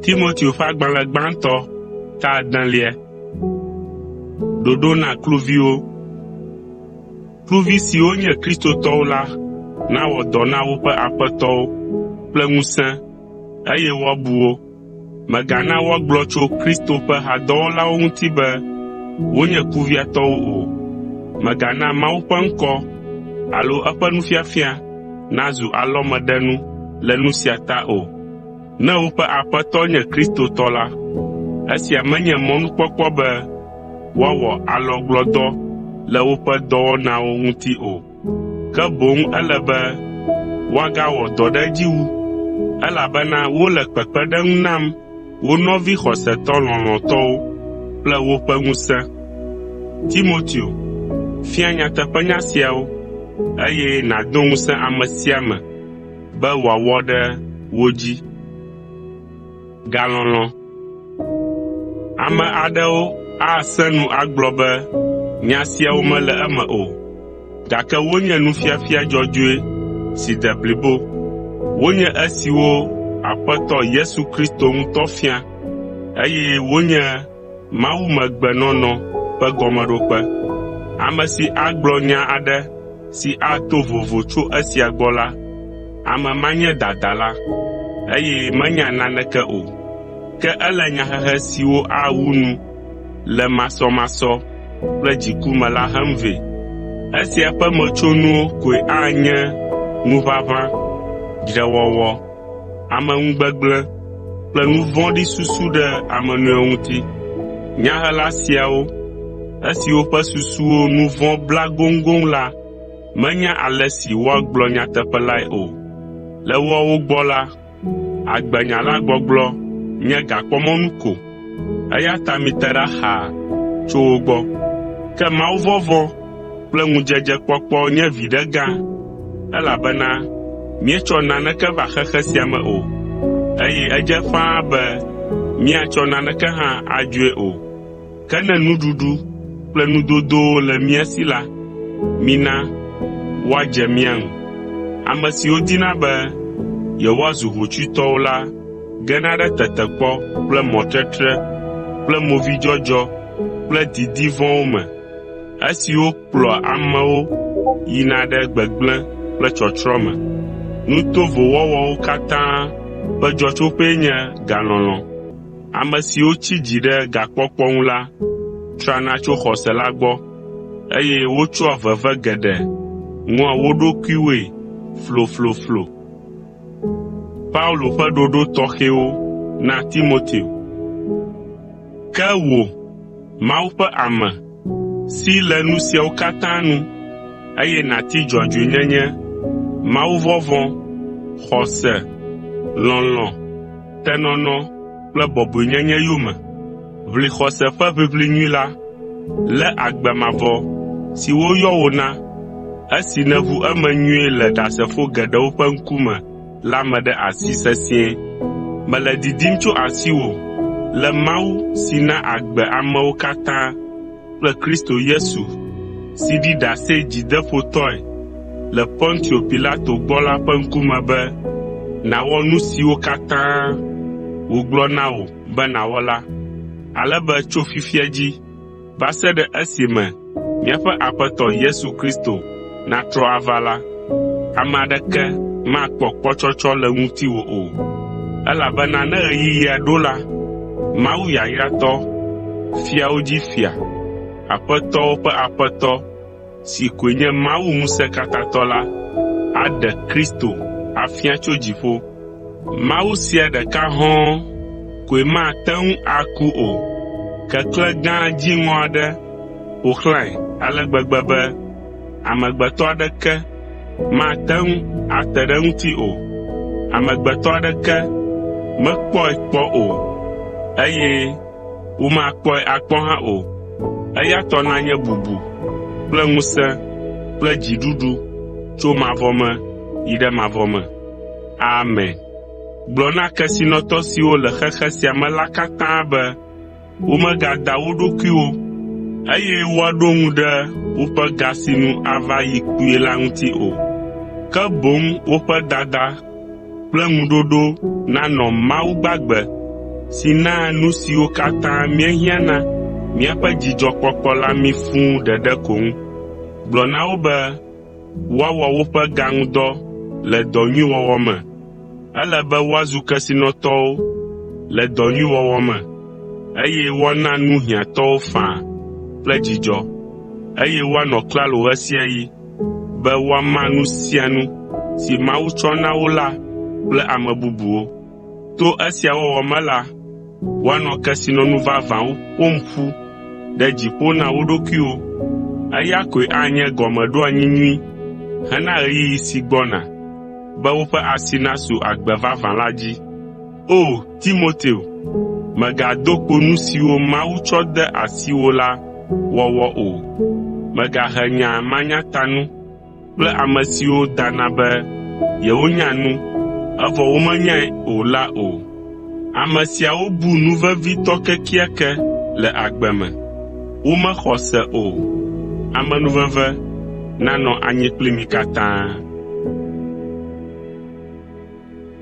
Timoteo ƒe agbalẽ gbãtɔ ta adelia. Ɖoɖo na kluviwo Kluvi siwo nye Kristotɔwo la nawɔ dɔ na woƒe aƒetɔwo kple ŋusẽ eye woabu wo. Mègana woagblɔ tso Kristo ƒe hadɔwɔlawo ŋuti be wonye kuviatɔwo o. Mègana Mawu ƒe ŋkɔ alo eƒe nufiafia nazu alɔmeɖenu le nu sia ta o. Ne woƒe Aƒetɔ nye Kristo tɔ la, esia menye mɔnukpɔkpɔ be woawɔ alɔgblɔdɔ le woƒe dɔwɔnawo ŋuti o. ke boŋ ele be woagawɔ dɔ ɖe edzi wu, elabena wole kpekpeɖeŋu nam wo nɔvi xɔsetɔ lɔlɔ̃tɔwo kple woƒe ŋusẽ. Timoteo, fia nyateƒenya siawo, eye nàdo ŋusẽ ame sia ame be wòawɔ ɖe wo dzi. Galɔlɔ̃. Ame aɖewo asẽ nu agblɔ be nya siawo mele eme o, gake wonye nufiafia dzɔdzɔe si de blibo. Wonye esiwo Aƒetɔ Yesu Kristo ŋutɔ fia, eye wonye mawumegbenɔnɔ ƒe gɔmeɖokpe. Ame si agblɔ nya aɖe si ato vovo tso esia gbɔ la, ame ma nye dadala, eye menya naneke o. Ke ele nyahehe siwo awu nu le masɔmasɔ kple dziku me la hem vɛ. Esia ƒe metsonuwo koe anye ŋuʋaʋã, dzrewɔwɔ, ameŋugbegblẽ kple nu vɔ̃ɖi susu ɖe ame nɔewo ŋuti. Nyahela siawo, esiwo ƒe susuwo nu vɔ̃ bla goŋgoŋ la menya ale si woagblɔ nyateƒe lae o. Le woawo gbɔ la, agbenyala gbɔgblɔ nye gakpɔmɔnu ko. eya ta mite ɖa xaa tso wo gbɔ. Ke mawuvɔvɔ̃ kple ŋudzedzekpɔkpɔ nye viɖe gã, elabena míetsɔ naneke va xexe sia me o, eye edze ƒãa be míatsɔ naneke hã adzoe o. Ke ne nuɖuɖu kple nudodowo le mía si la, mina woadze mía ŋu. Ame siwo dina be yewoazu hotsuitɔwo la gena ɖe tetekpɔ kple mɔtetre kple movidzɔdzɔ kple didi vɔ̃wo me, esiwo kplɔa amewo yina ɖe gbegblẽ kple tsɔtsrɔ̃ me. Nu tovo wɔwɔwo katã ƒe dzɔtsoƒee nye galɔlɔ̃. Ame siwo tsi dzi ɖe gakpɔkpɔ ŋu la trana tso xɔse la gbɔ, eye wotsɔa veve geɖe ŋɔa wo ɖokuiwoe flofloflo. Paulo ƒe ɖoɖo tɔxɛwo na Timoteo. Ke wò, Mawu ƒe ame, si le nu siawo katã nu, eye nàti dzɔdzɔenyenye, mawuvɔvɔ̃, xɔse, lɔlɔ̃, tenɔnɔ kple bɔbɔenyenye yome. Ʋli xɔse ƒe ʋiʋli nyui la. Lé agbe mavɔ si woyɔ wò na, esi nèʋu eme nyuie le Ɖasefo geɖewo ƒe ŋkume la me ɖe asi sesĩe. Mele didim tso asiwò le Mawu si na agbe amewo katã kple Kristo Yesu si ɖi ɖase dzideƒotɔe le Pontio Pilato gbɔ la ƒe ŋkume be nàwɔ nu siwo katã wògblɔ na wò be nàwɔ la, ale be tso fifia dzi va se ɖe esime míaƒe Aƒetɔ Yesu Kristo natrɔ ava la, ame aɖeke makpɔ kpɔtsɔtsɔ le ŋutiwò o. Elabena ne ɣeyiɣia ɖo la, Mawu yayratɔ, fiawo dzi Fia, Aƒetɔwo ƒe Aƒetɔ, si koe nye Mawu Ŋusẽkatãtɔ la, aɖe Kristo afia tso dziƒo. Mawu sia ɖeka hɔ̃ɔ koe mate ŋu aku o. Keklẽ gã dziŋɔ aɖe ƒo xlãe ale gbegbe be amegbetɔ aɖeke mate ŋu ate ɖe eŋuti o. Amegbetɔ aɖeke mekpɔe kpɔ o, eye Womakpɔe akpɔ hã o. Eya tɔ nanye bubu kple ŋusẽ kple dziɖuɖu tso mavɔ me yi ɖe mavɔ me. Amen. Gblɔ na kesinɔtɔ siwo le xexe sia me la katã be womegada wo ɖokuiwo, eye woaɖo ŋu ɖe woƒe ga si nu ava yi kpuie la ŋuti o, ke boŋ woƒe dada kple ŋuɖoɖo nanɔ Mawu gbagbe si naa nu siwo katã míehiã na míaƒe dzidzɔkpɔkpɔ la mí fũ ɖeɖe ko ŋu. Gblɔ na wo be woawɔ woƒe ga ŋu dɔ le dɔ nyui wɔwɔ me. Ele be woazu kesinɔtɔwo le dɔ nyui wɔwɔ me, eye woana nu hiãtɔwo faa kple dzidzɔ, eye woanɔ klalo ɣe sia ɣi. be woama nu sia nu si Mawu tsɔ na wo la kple ame bubuwo. To esia wɔwɔ me la, woanɔ kesinɔnu vavãwo ƒom ƒu ɖe dziƒo na wo ɖokuiwo. Eya koe anye gɔmeɖoanyi nyui hena ɣeyiɣi si gbɔna be woƒe asi nasu agbe vavã la dzi. O Timoteo, mègado kpo nu siwo Mawu tsɔ de asiwò la wɔwɔ o. Mègahe nya manyatanu kple ame siwo dana be yewonya nu, evɔ womenyae o la o. Ame siawo bu nu vevitɔ kekeake le agbe me. Womexɔ se o. Amenuveve nanɔ anyi kpli mi katã.